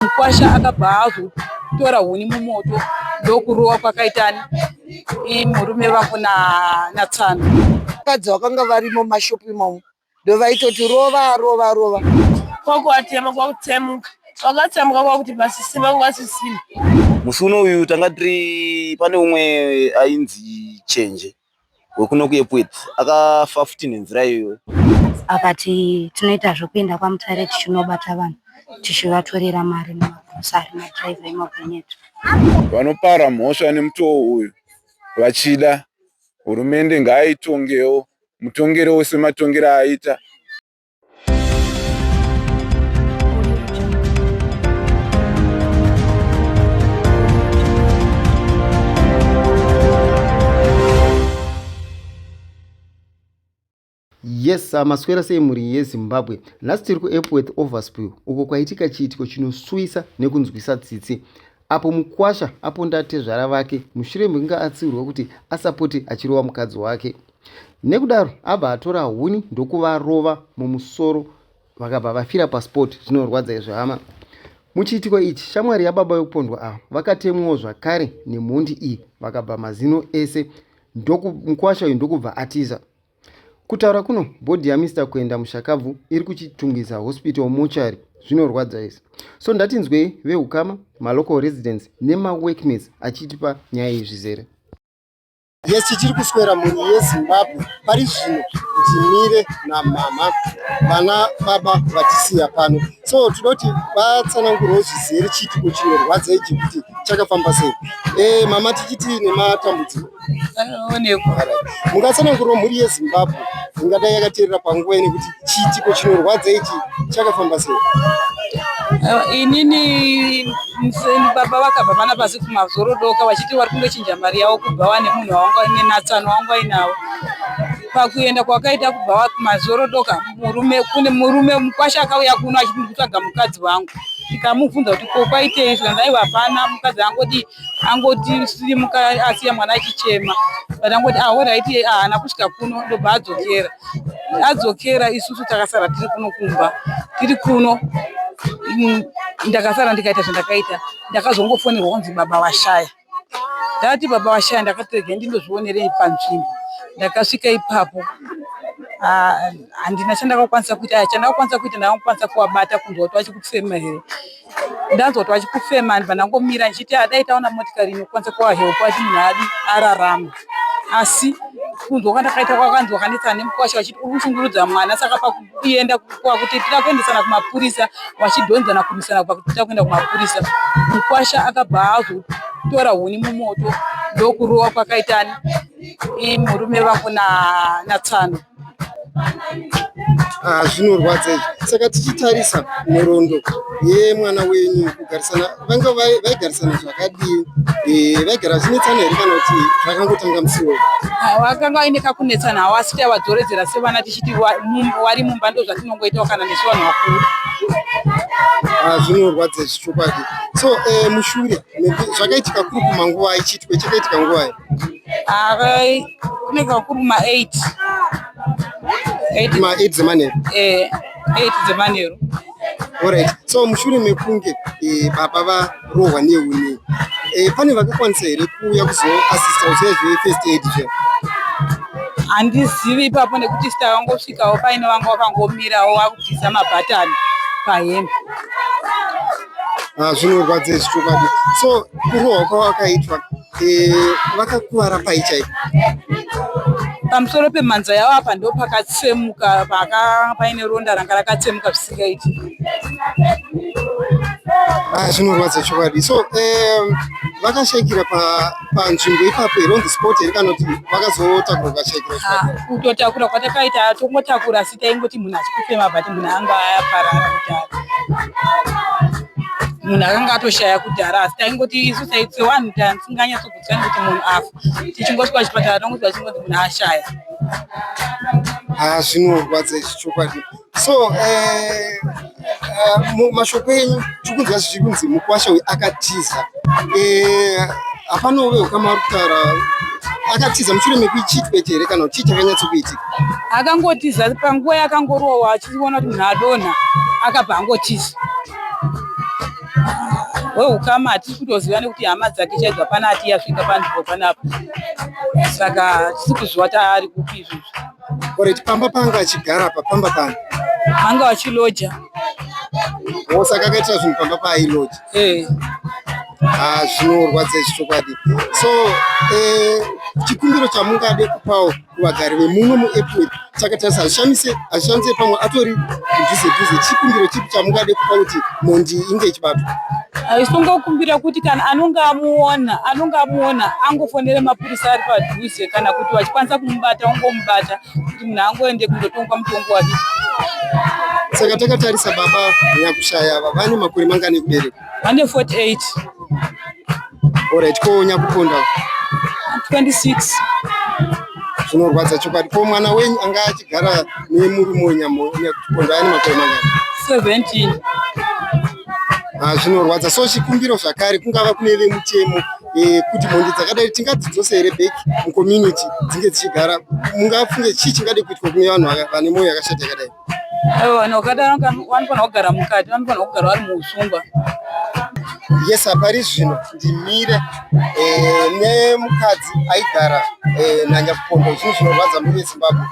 Mukwasha akabva azotora huni mumoto ndokurowa kwakaitani murume vako natsano vakadzi vakanga varimo mashopu imomo ndovaitoti rova rova rova kwakuatema kwakutsemuka vakatsamwa kwakuti vasisima ngasisima musi uno uyu tanga tiri pane umwe ainzi chenje wekuno kuEpworth akafa futi nenzira iyoyo. Akati tinoita zvekuenda kwaMutare tichinobata vanhu tichivatorera mari mumagrosari madriver emagonyeti. Vanopara mhosva nemutoo uyu vachida hurumende ngaaitongewo mutongero wese matongero aaita. yes uh, maswera sei mhuri yezimbabwe nhasi tiri kuepworth overspill uko kwaitika chiitiko chinosuwisa nekunzwisa tsitsi apo mukwasha aponda tezvara vake mushure mekunge atsiurwa kuti asapote achirova mukadzi wake nekudaro abva atora huni ndokuvarova mumusoro vakabva vafira pasport zvinorwadza izvi hama muchiitiko ichi shamwari yababa vekupondwa ava vakatemwawo zvakare nemhondi iyi vakabva mazino ese mukwasha uyu ndokubva atiza Kutaura kuno body yaMr Kuenda mushakabvu iri kuChitungwiza Hospital mortuary zvinorwadza izvi. So ndatinzwei vehukama, malocal residents nemaworkmates achitipa nyaya iyi zvizere. Yes, tichiri kuswera mhuri yeZimbabwe pari zvino ndimire namama vana baba vatisiya pano so tinoti vatsanangurwo zvizere chiitiko chinorwadza ichi kuti chakafamba sei e, mama tichiti nematambudziko mungatsanangurwa mhuri yezimbabwe ingadai yakateerera panguva ine kuti chiitiko chinorwadza ichi chakafamba sei inini baba vakabva vana pasi kumazorodoka vachiti vari kundochinja mari yavo kubva wane munhu wawanganenatsano wanga wainavo pakuenda kwakaita kubva kumazorodoka murume kune murume mukwasha akauya kuno achiti ndikutsvaga mukadzi wangu tikamubvunza kuti ko kwaitei zvikanzi aiwa hapana mukadzi angodi angoti silimuka asiya mwana achichema but angoti ahoraiti ah, haana kusvika kuno ndobva adzokera adzokera isusu takasara tiri kuno kumba tiri kuno mm, ndakasara ndikaita zvandakaita ndakazongofonerwa kunzi baba vashaya ndati baba vashaya ndakatirege ndindozvionerei panzvimbo ndakasvika ipapo ah, handina chandakakwanisa kuita ah, chandakakwanisa kuita ndakakwanisa kuvabata kunzwa kuti vachikutisema here ndanzwa kuti vachikufema ndibva ndangomira ndichiti adai taona motikari inokwanisa kuvahelpa kuti munhu adi ararama asi kunzwa kwandakaita kwakanzwa kanetsana nemukwasha vachiti uri kushungurudza mwana saka pakuenda kwakuti tira kuendesana kumapurisa vachidhonzana kurwisana kubva kuti tira kuenda kumapurisa mukwasha akabva azotora huni mumoto ndokurowa kwakaitani murume vangu natsano na Ah, zvinorwadza izvi saka tichitarisa nhoroondo yemwana wenyu kugarisana vange vaigarisana zvakadii eh, vaigara vachinetsana here kana kuti vakangotanga musi wei ah, vakanga vaine kakunetsana hawo asi tavadzoredzera sevana tichiti wari mumba ndo zvatinongoitawo kana nesu vanhu vakuru ah, zvinorwadza izvi chokwadi so eh, mushure zvakaitika kuri kumanguva ichitwe chakaitika nguvai Akai kune kakuru ma 8. 8 ma 8 dzemanheru. Eh, 8 dzemanheru. Alright. So mushure mekunge eh, baba varohwa nehuni eh, pane vakakwanisa here kuuya kuzoasista kuziva zvefirst aid zve handizivi ipapo nekuti sita vangosvikawo paine vanga vakangomirawo vakubvisa mabhatani pahembe ah, zvinorwadza izvi chokwadi so kurohwa kwawakaitwa Eh, vakakuvara pai chaipo pamusoro pemhanza yavo apa ndo pakatsemuka paka paine ronda ranga rakatsemuka zvisingaiti ah, zvinorwadza chokwadi so eh, vakashaikira panzvimbo ipapo here on the spot here kana kuti vakazotakura vakashaikira ah, kutotakura kwatakaita tongotakura asi taingoti munhu achikufema but munhu anga ayaparara kudhara munhu akanga atoshaya kudhara asi taingoti isu saitse wanhu tasinganyatsogutsikani kuti munhu afa tichingoti pachipatara tongoti vachingonzi munhu ashaya ha ah, zvinorwadza izvi chokwadi so eh, eh, mashoko enyu tikunzwa zvichikunzi mukwasha uyu akatiza eh, hapana uve ukama ari kutaura akatiza mushure mekuichiitwa chete here kana kuti chii chakanyatsokuitika akangotiza panguva yakangorowa achiona kuti munhu adonha akabva angotiza wehukama hatisi kutoziva nekuti hama dzake chaidzo hapana ati yasvika panzvimbo panapa saka hatisi kuziva taari kupi izvozvo koreti pamba panga achigara pa pamba pano anga vachiloja o saka akaitira zvinhu pamba paailoja eh. ah, zvinorwadza izvi chokwadi so eh, chikumbiro chamungade kupawo kuvagari vemuno muepworth saka tarisa hazvishamise hazvishamise pamwe atori mudhuze dhuze chikumbiro chipi chamungade kupa kuti mhondi inge ichibatwa isingokumbira kuti kana anonge amuona anonge amuona angofonere mapurisa ari padhuze kana kuti vachikwanisa kumubata ongomubata kuti munhu angoende kundotongwa mutongo wake saka takatarisa baba nyakushaya ava vane makore mangani ekubereka Ane 48. Alright, ko nyakuponda? 26. Zvinorwadza chokwadi. Ko mwana wenyu anga achigara nemurume wenyamo nyakuponda ane makore mangani? 17. Ah, zvinorwadza. So chikumbiro zvakare kungava kune vemutemo eh, kuti mhondi dzakadai tingadzidzose here back mucommunity dzinge dzichigara mungafunge chii chingade kuitwa kune vanhu vane mwoyo yakashata yakadai vanhu vakadaro vanofanira kugara mukati vanofanira kugara vari muusungwa yes apari zvino ndimire eh, nemukadzi aigara eh, nanyakupondo zvinhu zvinorwadza muri vezimbabwe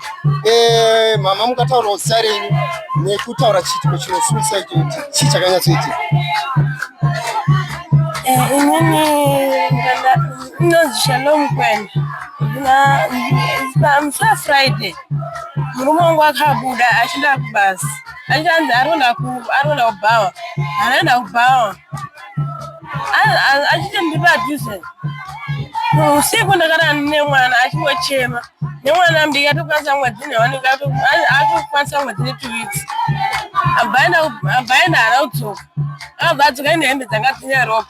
eh, mama mukataurawo zita renyu nekutaura chiitiko chinosuisa icho kuti chii chakanyatsoitika inini inonzi shalom kwena na msa friday murume wangu akabuda achienda kubasa achanzi aronda aronda kubhawa anoenda kubhawa achiti ndiri padhuze usiku ndakarara nemwana achingochema nemwana mdiki atokwanisa mwedzi newanike atokwanisa mwedzi netu weeks abhaenda hana kudzoka akabva adzoka ine hembe dzanga dzine ropa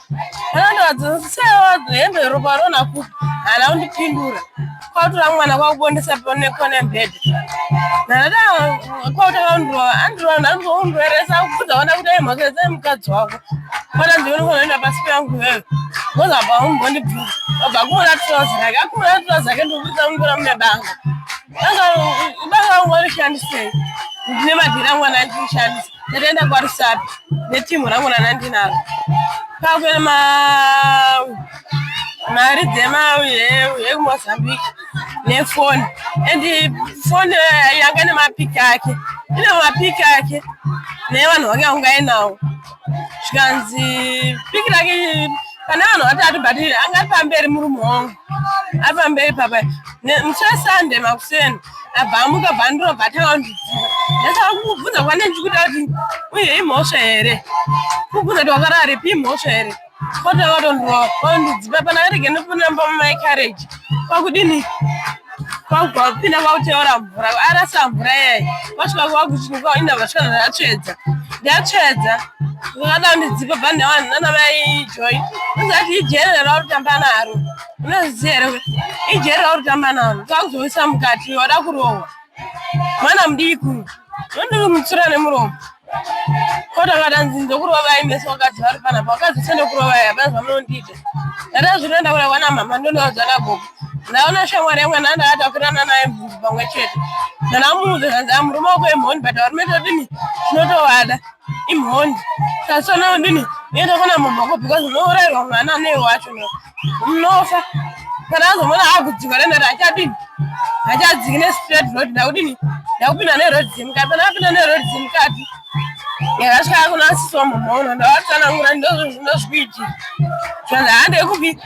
anandoadzosa hembe ropa rona kupi hana kundipindura kwautora mwana kwakubondesa pone kone bed nada kwautanga undirova andirova ndandondirweresa kubvudza ona kuti mhaka dzai mukadzi wako ona ndionokonoenda pasi peyangu iwewe ngoza paunondibvudza obva kumona trozi rake akumona trozi rake ndikubudza mungora mune banga banga ungu warishandisei ndine madhira mwana achishandisa ndatoenda kwarusapi netimhu rangu ranandinaro kwakuenda ma mari dzemamozambique nefoni and foni eh, yanga nemapiki ake ine mapiki ake nevanhu vange vangainawo zvikanzi piki rake pane vanhu vatatu but anga ari pamberi murume wangu apa mberi papa muchira sande makuseni abva amuka bhandiro bvatanga ndidziva ndasaka kukubvunza kwane ndichikuta kuti uye imhosva here kukubvunza kuti wakararipi imhosva here kotanga kutondirova kwandidziva pana arege nekunamba mumai carriage kwakudini kwakubva vapinda kwakuteura mvura arasa mvura iyayi vasvika kwakuchinuka inda vasvika ndatsvedza ndatsvedza vakada kundidzipa bhandi avanhu nana mai joy ndozati ijere rauri kutamba naro unoziziva here kuti ijere rauri kutamba naro kwakuzoisa mukati wada kurohwa mwana mudiki uyu ndondiri mutsura nemuromo Kota kana nzinzo kurova vai meso wakadzi vari pana pa wakadzi sende kurova ya bana zvamunondita. Ndada zvino ndaura wana mama ndono wadzana gogo. Ndaona shamwari yamwe nanda atafirana naye mvunzi pamwe chete. Ndana muudza zvanzi amurume wako imhondi but varume todini tinotovada imhondi. Sasona ndini nenda kuna mama wako because unourairwa mwana nei wacho no. munofa kana azomona akudzika renhare achadini achadziki nestraight road ndakudini ndakupinda neroad dzemukati kana apinda neroad dzemukati yakasvika yakuna asiswa mumono ndavatsanangura ndozvinokuiti zvanzi hande kupi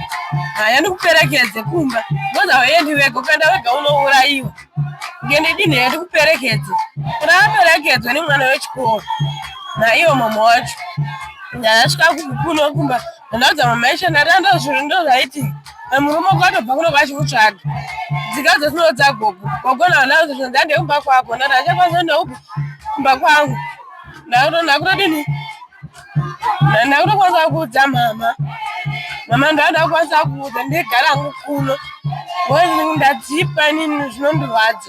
haya ndikuperekedze kumba moza wayendi vega ukaenda vega unourayiwa ngendidini hee ndikuperekedze kuna aperekedzwe nemwana wechikoro naiwo mama wacho ndakasvika kuno kumba Ndakadza mama Aisha ndati ando zvinhu ndo zvaiti murume kwatobva kuno vachimutsvaga dzika dzetinodza gogo gogo naanauzi zvinhu ndande kumba kwako ndati achakwanisa ndaupi kumba kwangu ndakutodini ndakutokwanisa kuudza mama mama ndanda kukwanisa kuudza ndigara hangu kuno ndadzipa inini zvinondirwadza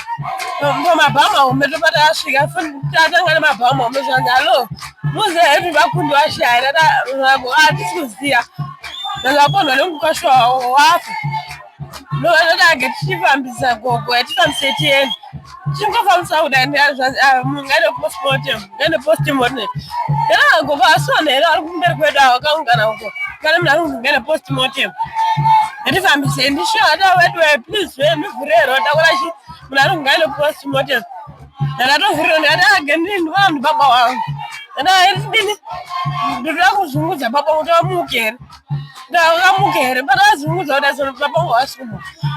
mabhamu ahombe tobata asvika tatanga nemabhamu ahombe zvanzi hallo muziva hedu vakundi vashaya atisi kuziva ndakapondwa nemukasha wafa ndovatotake tichifambisa gogo yatifambise tiende tichingofambisa kudai zvanzi ah, mungaide postmotem Nene post mortem. Era go ba so ne era ku nder ko da ka un kana ko. Kana mna ku ngene post mortem. Ndi fambi se ndi sha da we do please we mi vure ro da kola shi mna ku ngene post mortem. Era to vure ne da gen ni ndo am baba wa. Era ndi ni. Ndi ra ku zungu za baba u to mu ke. Da ka mu ke. Ba ra zungu za da so baba wa su.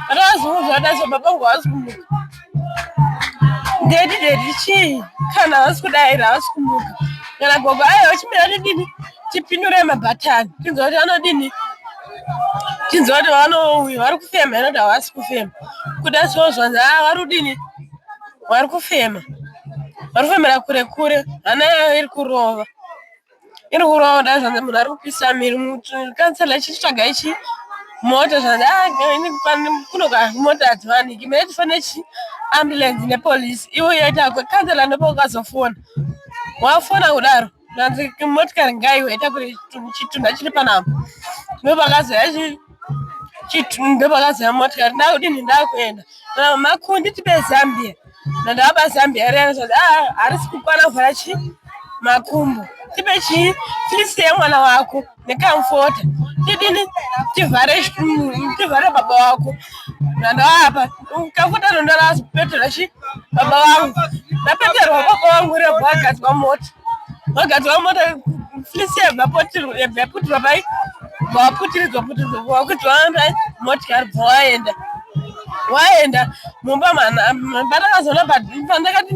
Ba ra zungu za da so baba wa su. Daddy daddy chii kana havasi kudaira havasi kumuka kana gogo aya vachimira nedini tipindure mabhatani tinzwa kuti vanodini tinzwa kuti vanouya vari kufema inoti havasi kufema kuda so zvanzi a ah, vari kudini vari kufema vari kufemera kure kure hana yavo iri kurova iri kurova kudai zvanzi munhu ari kupisa miri kansela ichitsvaga ichi mota zvanzi ah, kuno mota hadziwaniki mene tifane chi ambulance nepolice ivo yaita kansela ndopa ukazofona wafona kudaro zvanzi motikari ngaiwe ita kuti chitunha chiri panapa ndopakazoya chiti ndopakazaya motikari ndakudini ndakuenda makundi tibe zambia ndandakaba zambia riyana zvati ah, harisi kukwana kuvhara chii makumbo tipe chii fisi yemwana wako nekamfota tidini tivhare tivhare baba wako ndandoapa Ukafuta ndo ndarapeterwa chi baba vangu ndapeterwa baba vangu rebwa agadzwa mota vagadzwa mota flisi yaputirwa pai vaputiridzwa putiridzwa vakudzwa motikari bva waenda waenda mumba mwana mwana akazoona pandakati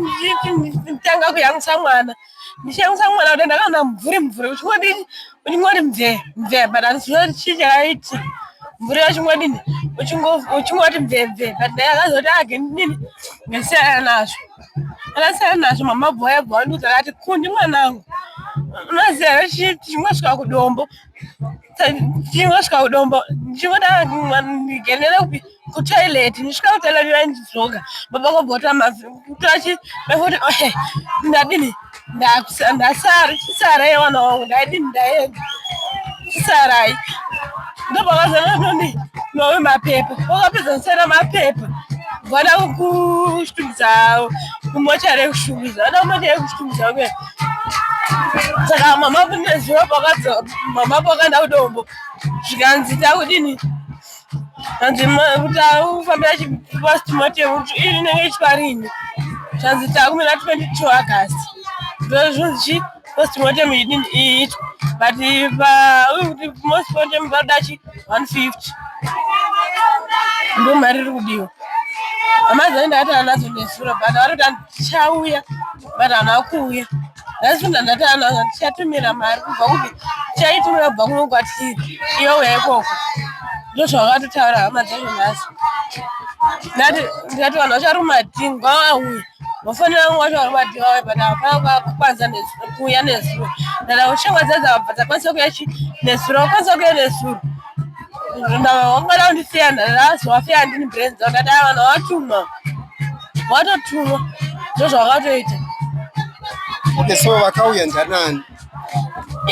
nditanga kuyamwisa mwana ndichiyamwisa mwana kuti ndakaona mvuri mvuri uchingodini uchingoti mvee mvee but handiziva kuti chii chakaiti mvuri uchingodini uchingoti mvee mvee but dai akazoti age ndidini ndasiyana nazvo akasiyana nazvo mama bhoya bhoya ndiuti akati kundi mwanangu unoziva chimwe svika kudombo ndichingosvika kudombo ndichingoda ndigenere kupi kutoilet ndisvika kutoilet ndandidzoka baba kobota mazi kutochi bekuti ohe ndadini ndasara chisara yewana wangu ndaidini ndaenda chisarai ndopakazananoni nowe mapepa wakapedza kusara mapepa vana kushungudza avo kumochari yekushungudza vana kumochari yekushungudza kuya saka mama kunezuva pakadzoka mama pakaenda kudombo zvikanzi takudini hanzi taufambira chipastimotemu iri inenge ichiparini zvanzi takumira 22 agast ndozvonzi chi postmortem idini iitwa but kuti postmortem vanoda chi 150 ndo mari iri kudiwa amazani ndaati anazo nesura but varotani tichauya but hana kuuya nhasi ndandati anhu anga tichatumira mari kubva kupi tichaitumira kubva kuno kwatiri iyo uya ikoko ndo zvavakatotaura hama dzacho nhasi ndati ndikati vanhu vacharuma dhingi kwavauya vafanira kunge vacharuma dhingi vauya but hapana kukwanisa kuuya nezuro ndada kuti shamwa dzadza vabva dzakwanisa kuya chi nezuro vakwanisa kuya nezuro ndavangada kundisiya ndadazovafeya ndini brain dzavo ndati a vanhu vavatuma watotumwa ndozvakatoita okay so vakauya ndanani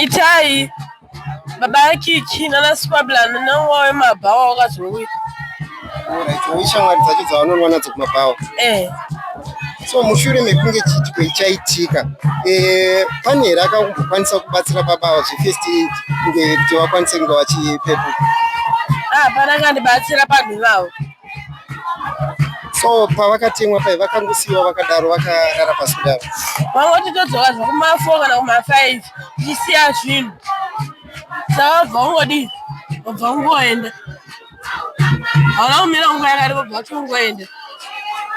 itai baba yakiki nana squablan nanguva wemabhawa wakazouya ishamwari dzacho dzavanonwa nadzo kumabhawa eh. so mushure mekunge chitiko ichaitika eh, pane here akakumbokwanisa kubatsira baba ava zvefirst aid kuti vakwanise kunge vachipepuka hapana ah, kandibatsira panhu vavo so pavakatemwa pai vakangosiiwa vakadaro vakarara pasi kudaro vangoti todzoka zvekumafo kana kumafive tichisiya zvinhu savabva ungodii obva ungoenda hauna kumira nguva yakati obva kuti ungoenda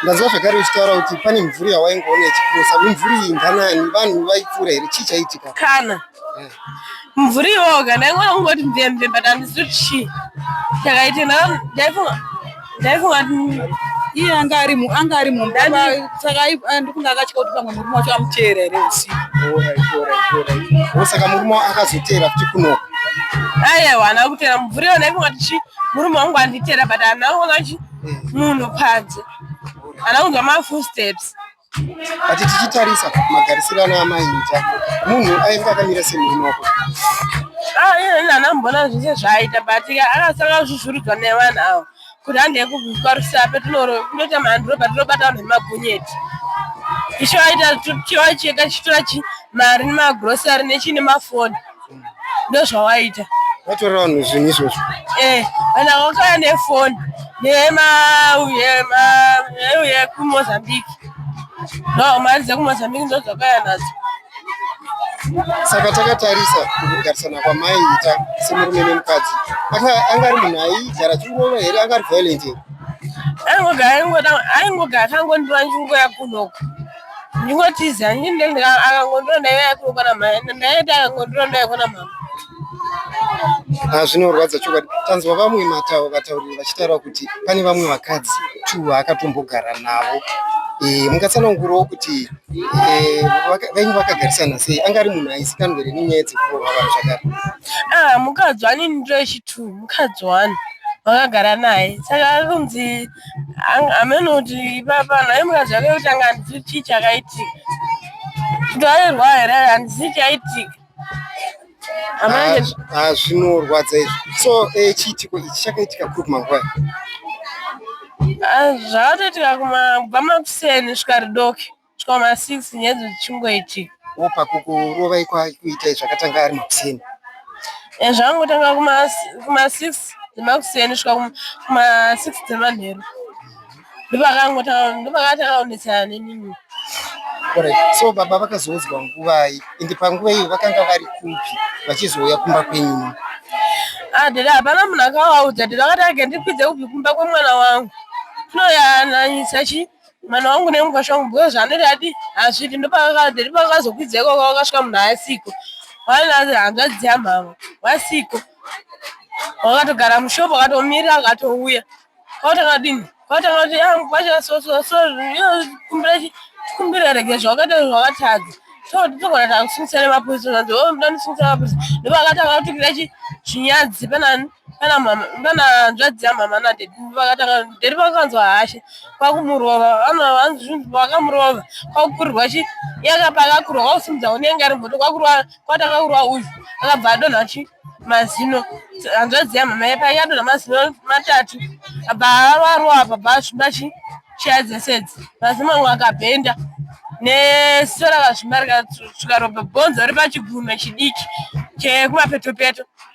ndaziva zvakare uchitaura kuti pane mvuri yawaingoona ichipusa mimvuri iyi nganani vanhu vaipfuura here chii chaitika kana eh. mvura iwoga ndaingona kungoti mvemve but handisi kuti chii ndakaita ndaifunga ndaifunga iye anga ari anga ari mumba saka ndikunge akatya kuti pamwe murume wacho amuteera here usiku saka murume akazoteera kuti kuno aiwa ana kuteera mvura iyo ndaifunga kuti chii murume wangu anditeera but ana kuona chi munhu panze ana kunzwa mafull steps Ati tichitarisa magarisiro ana amai Mita, munhu ainge akamira semhinoko. Ah, iye nana mbona zvese zvaaita but akasanga kuzvuzvurudzwa nevanhu ava kuti handei kubviswa rusape tinoita mhanduro patinobata vanhu vemagonyeti icho aita chiwa chega chitora chi mari nemagrosari nechii nemafoni ndozvawaita watora vanhu zvinhu izvozvo eh kana wakauya nefoni nema yema yema kumozambique no mari dzekumozambique ndodzakauya nadzo saka takatarisa kugarisana kwamaiita semurume nemukadzi anga ari munhu aigara chingova here anga ari violent here aingogara aingogara akangondiva chingoya kunoku ndingotiza akangondiona ndaive yakunokwana mhaya ndaiti akangondiona ndaikona mhama zvinorwadza chokwadi tanzwa vamwe matau vatauriri vachitaura kuti pane vamwe vakadzi tu vaakatombogara navo eh, mungatsanangurawo kuti eh, vainge vakagarisana sei anga ari munhu aizikanwa here nenyaya dzekurohwa vanhu zvakare ah, mukadzi wani ndiro yechitu mukadzi wani vakagara naye saka anonzi ameno kuti ipapa nhai mukadzi wake kuti anga handizivi chii chakaitika kutorerwa here handizivi chaitika zvinorwadza izvi so eh, chiitiko ichi chakaitika kuri kumanguva zvakatoitika kubva makuseni svika ridoke Chikoma 6 nyedzo dzichingoitika. Wo pakukurovai kwakuitai zvakatanga ari makuseni. Eh, zvangotanga kuma kuma 6 dzemakuseni svika kuma 6 dzemanheru. Ndopakangotanga ndopakatanga kunetsana nenini. Alright. So baba vakazoudzwa nguvai ende panguva iyo vakanga vari kupi vachizouya kumba kwenyu? Ah, dada hapana munhu akavaudza dada vakati agendikwidze kubvi kumba kwemwana wangu. Tinoyananyisa chi mwana wangu nemukwasha wangu because anoti ati hazvidi ndopakadheri pakazokwidzwa ikoko wakasvika munhu asiko wainazi hanzvadzi yamhama wasiko wakatogara mushopo akatomirira akatouya kwakutanga dini kwakutanga kuti ah, mukwasha so so so kumbira kumbira rege zvawakaita zvawakatadza togona takusimusa nemapuisa zvanzi o oh, ndoda ndisimisa mapuisa ndopakatanga kutukira chinyadzi panani kana mama kana hanzvadzi yamama nadedi vakatanga dedi vakanzwa hashe kwakumurova vakamurova kwakukurirwa chi yakapa akakurwa kwakusimudza unenge ari mboto kwakurwa kwatanga kurwa uyu akabva adonha chi mazino hanzvadzi yamama yapa yadonha mazino matatu abva avarwa apa bva asvimba chi chaya dzesedzi mazino mamwe akabhenda nesora kazvimba rikasvika ropa bhonzo ripachigunwe chidiki chekumapeto peto, peto.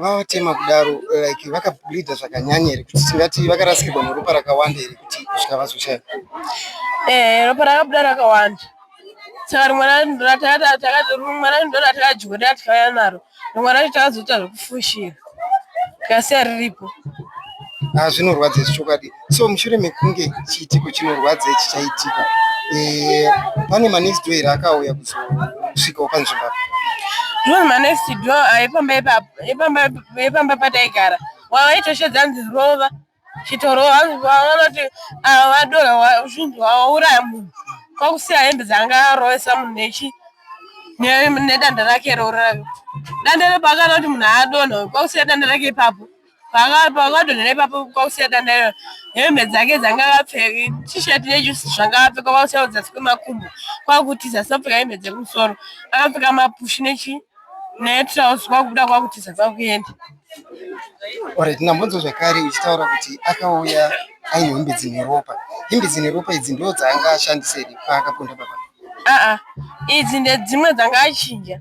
vavatema kudaro like vakableedha zvakanyanya here kuti tingati vakarasikirwa neropa rakawanda here kuti kusvika vazoshaya ehe ropa rakabuda rakawanda saka rimwe racho ndo ratakadyiwa ratikauya naro rimwe racho takazoita zvekufushira tikasiya riripo ah, zvinorwadza izvi chokwadi so mushure mekunge chiitiko chinorwadza ichi chaitika eh, pane manext door here akauya kuzosvikawo panzvimbo apa ndiwo manext door epamba pataigara wavaitoshedza nzi rova chitorova vanoti ah, vadora zvinhu vauraya munhu kwakusiya hembe dzanga arovesa munhu nechi nedanda rake rorave danda repo akanoti munhu aadonha kwakusiya danda rake ipapo pakadonhera ipapo kwakusiya tandaira hembe dzake dzanga akapfeka tisheti nejusi zvanga akapfeka kwakusiya kudzasi kwemakumbo kwakutiza asina kupfeka hembe dzekumusoro akapfeka mapushi nechi netrouse kwakubuda kwakutiza kwakuenda orit nambonzwa zvakare uchitaura kuti akauya aine hembe dzine ropa hembe dzine ropa idzi ndo dzaanga ashandisei paakaponda papa aa idzi ndedzimwe dzanga achinja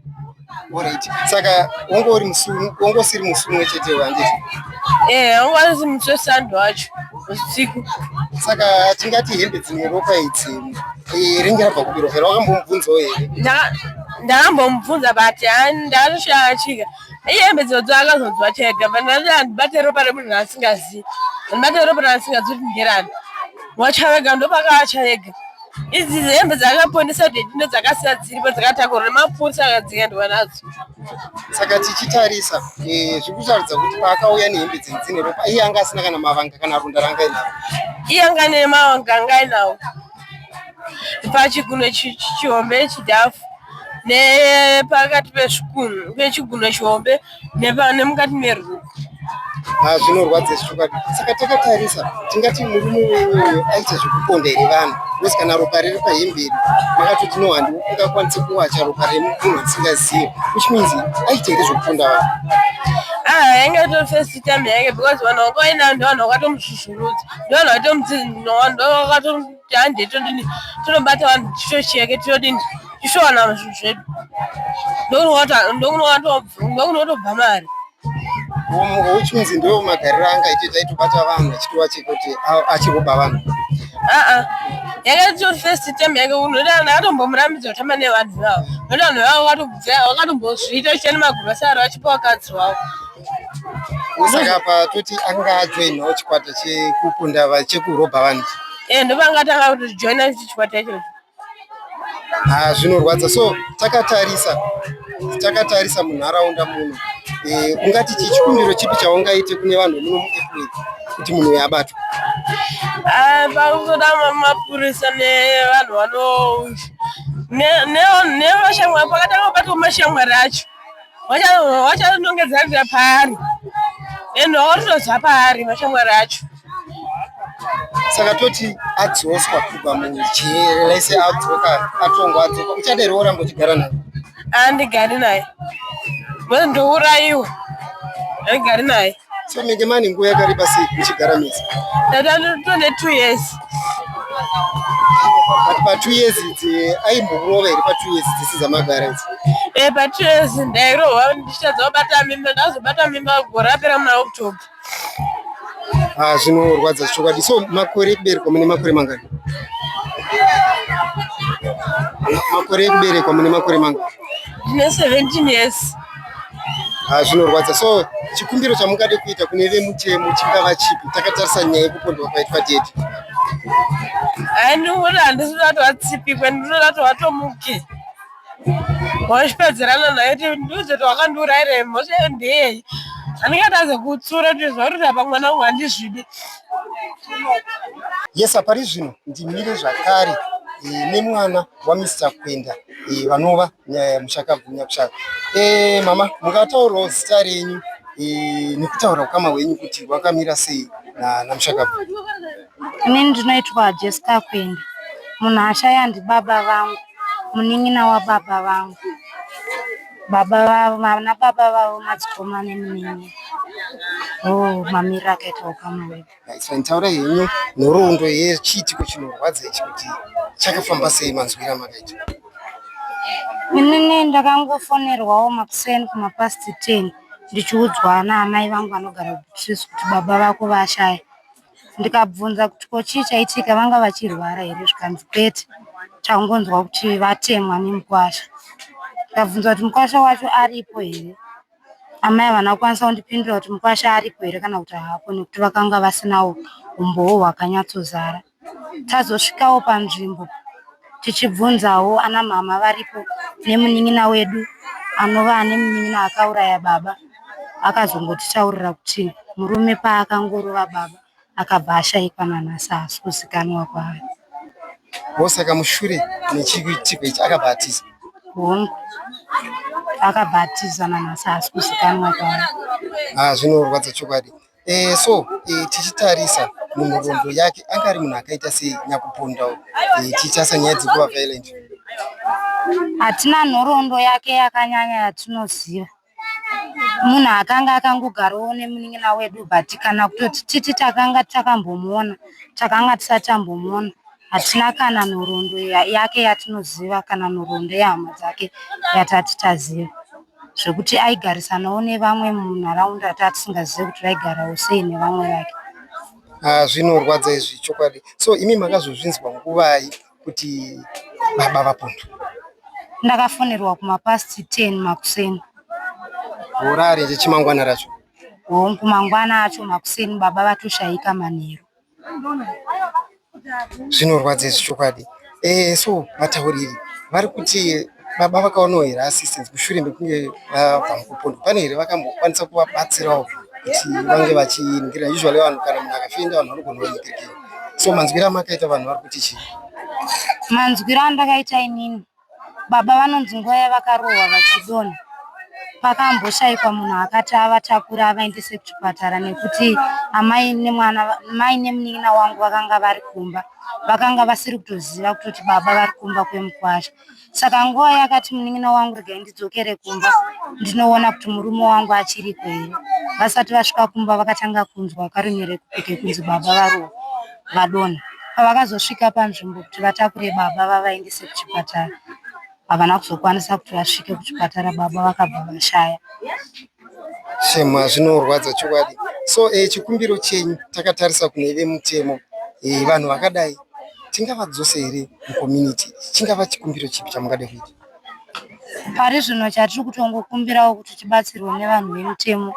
Alright. Saka wanga uri musumu, wanga usiri musumu wechete wanditi. Eh, wanga ari musumu sando wacho usiku. Saka tingati hembe dzine ropa idzi. Eh, ringira bva kubiro here wakambomubvunzawo here? Ndaka ndakambomubvunza but ndakatoshaya chika. Iye hembe dzodzo akazonzwa chega, but ndakati handibate ropa remunhu asingazivi. Handibate ropa remunhu asingazivi kuti nderani. Wacha wega ndopakawacha wega. Idzi hembe dzakaponesa kuti ndindo dzakasiya dziripo dzakatakurwa nemapurisa akadziendwa nadzo. Saka tichitarisa eh, zviri kutaridza kuti paakauya nehembe idzi dzine ropa iye anga asina kana mavanga kana runda ranga inaro. Iye anga ane mavanga anga inawo pachigunwe chihombe chidhafu nepakati pezvigunwe pechiguno chihombe. nemukati meruko ah, zvinorwadza izvi chokwadi saka takatarisa tingati murume wewewe aita zvekuponda here vanhu bcause kana ropa riri pahemberi makati tino handiwo ungakwanise kuwacha ropa remunhu asingazive which means aita here zvekuponda vanhu ah, yange to first time yange because vanhu vakaenda vanhu vakatomuzvuzvurudza ndovanhu vakatomudzi ndovanhu vakato kuti hande todini tinobata vanhu chichochi yake tinodini tishowana zvinhu zvedu ndokunotobva mari uchinzi ndo magariro anga aitita itobata vanhu achitova chekuti achikuba vanhu aa yanga itori first time yake unoda vanhu akatombomurambidza kutamba nevanhu vavo noda vanhu vavo vakatombozviita uchiita nemagurosari vachipa vakadzi wavo saka apa toti anga ajoinawo chikwata chekukunda chekurobha vanhu eh, ndovanga tanga kutojoina chikwata ichocho ha zvinorwadza so takatarisa takatarisa munharaunda muno eh, ungati chichikumbiro chipi chaungaite kune vanhu muno muapril kuti munhu uyo abatwa ah, pakuzoda mapurisa nevanhu vano nevashamwari pakatanga kubatwa mashamwari acho vachanongedzanira paari and vaorinozva paari mashamwari acho saka toti adzoswa kubva mujere lese adzoka atongwa adzoka uchadero oramba uchigara naye andigari naye ndourayiwa andigari naye So menge mani nguva yakareba sei muchigara mese? Tone two years. But pa two years idzi aimborova here pa two years dzisi dzamagara idzi? Eh pa two years ndairohwa ndichitadza kubata mimba ndazobata mimba gore rapera muna October. Ah zvinorwadza chokwadi. So makore ekuberekwa mune makore mangani? Makore ekuberekwa mune makore mangani? Ndine 17 years. ah, zvinorwadza so chikumbiro chamungade kuita kune vemutemo chingava chipi takatarisa nyaya yekupondwa kwaitwa deti andiona handisi kuda kuti vatsipikwe ndinoda kuti vatomuke wachipedzerana naye ti ndiudzoti wakandiurayire mhosva iyo ndeyei anenge ataze kutsura kuti zvaurira pamwana wangu handizvidi yesa pari zvino ndimire zvakare eh, nemwana wamr kwenda eh, vanova nyaya muchakabvunya kushaka eh mama mukataurawo zita renyu eh, nekutaura ukama hwenyu kuti wakamira sei na namushakabvunya inini ndinoitwa jessica kwenda munhu ashaya ndibaba vangu munin'ina wababa vangu baba vavo vana baba vavo madzikoma nemunin'ina o oh, mamira akaita ukama hwedu Maisman, taurai henyu nhoroondo yechiitiko chinorwadza ichi kuti chakafamba sei manzwira makaita? Inini ndakangofonerwawo makuseni kumapast 10 ndichiudzwa naamai vangu vanogara kuBusiso kuti baba vako vashaya. Ndikabvunza kuti ko chii chaitika vanga vachirwara here zvikanzi kwete tangonzwa kuti vatemwa nemukwasha. Ndikabvunza kuti mukwasha wacho aripo here? amai havana kukwanisa kundipindura kuti mukwasha aripo here kana kuti haapo nekuti vakanga vasinawo umbowo hwakanyatsozara tazosvikawo panzvimbo tichibvunzawo ana mhama varipo nemunin'ina wedu anova ane munin'ina akauraya baba akazongotitaurira kuti murume paakangorova baba akabva ashaikwa nanhasi haasi kuzikanwa kwayo wosaka mushure nechiitiko ichi akabva atiza hongu akabva atiza nanhasi haasi kuzikanwa kwayo ah, zvinorwadza chokwadi e, so e, tichitarisa munhoroondo yake anga ari munhu akaita sei nyakupondawo e, eh, tichasa nyaya dzekuva violent hatina nhoroondo yake yakanyanya yatinoziva munhu akanga akangogarowo nemunin'ina wedu but kana kutoti titi takanga takambomuona takanga tisati tambomuona hatina kana nhoroondo yake yatinoziva kana nhoroondo yehama dzake yatati taziva zvekuti aigarisanawo nevamwe munharaunda tatisingazivi kuti vaigarawo sei nevamwe vake ah, zvinorwadza izvi chokwadi so imi makazozvinzwa nguvai kuti baba vapondo ndakafonerwa kuma past 10 makuseni hora ari chimangwana racho hongu mangwana acho makuseni baba vatoshayika manheru zvinorwadza izvi chokwadi eh so vatauriri vari kuti Baba vakaonawo here assistance mushure mekunge vabva mukupondwa pane here vakambokwanisa kuvabatsirawo kuti vange vachiningira usually vanhu kana munhu akafenda vanhu vanogona kuningirirei so manzwiro amakaita vanhu vari kuti chii manzwiro andakaita inini baba vanonzi nguva yavakarohwa vachidona pakamboshaikwa munhu akati avatakura avaendese kuchipatara nekuti amai nemwana mai nemunin'ina wangu vakanga vari kumba vakanga vasiri kutoziva kutoti baba vari kumba kwemukwasha saka nguva yakati munin'ina wangu regai ndidzokere kumba ndinoona kuti murume wangu achiriko here vasati vasvika kumba vakatanga kunzwa karunyere kuke kunzi baba varohwa vadonha pavakazosvika panzvimbo kuti vatakure baba vavaendese kuchipatara havana kuzokwanisa kuti vasvike kuchipatara baba vakabva vashaya Shema zvinorwadza chokwadi. So eh, chikumbiro chenyu takatarisa kune vemutemo eh, vanhu vakadai tingavadzose here mucommunity? Chingava chikumbiro chipi chamungada kuita? Pari zvino chatiri kutongokumbirawo kuti tibatsirwe nevanhu vemutemo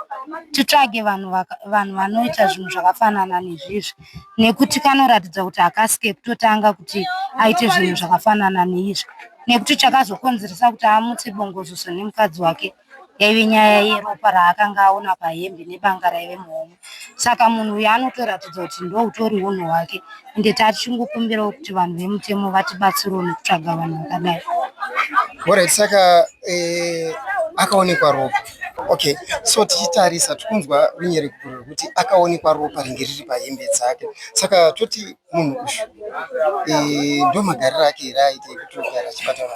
titsvage vanhu vanhu vanoita zvinhu zvakafanana nezvizvi nekuti kanoratidza kuti hakasike kutotanga kuti aite zvinhu zvakafanana neizvi nekuti chakazokonzeresa kuti amutse bongozoso nemukadzi wake yaive nyaya yeropa raakanga aona pahembe nebanga raive muhomwe saka munhu uyu anotoratidza kuti ndoutori hunhu hwake ende tachingokumbirawo kuti vanhu vemutemo vatibatsirewo nekutsvaga vanhu vakadai orit saka eh, akaonekwa ropa okay so tichitarisa tikunzwa runyerekuto rwekuti akaonekwa ropa ringe riri pahembe dzake saka toti munhu uyu ndomagariro ake here aite ekuti ugara chipatara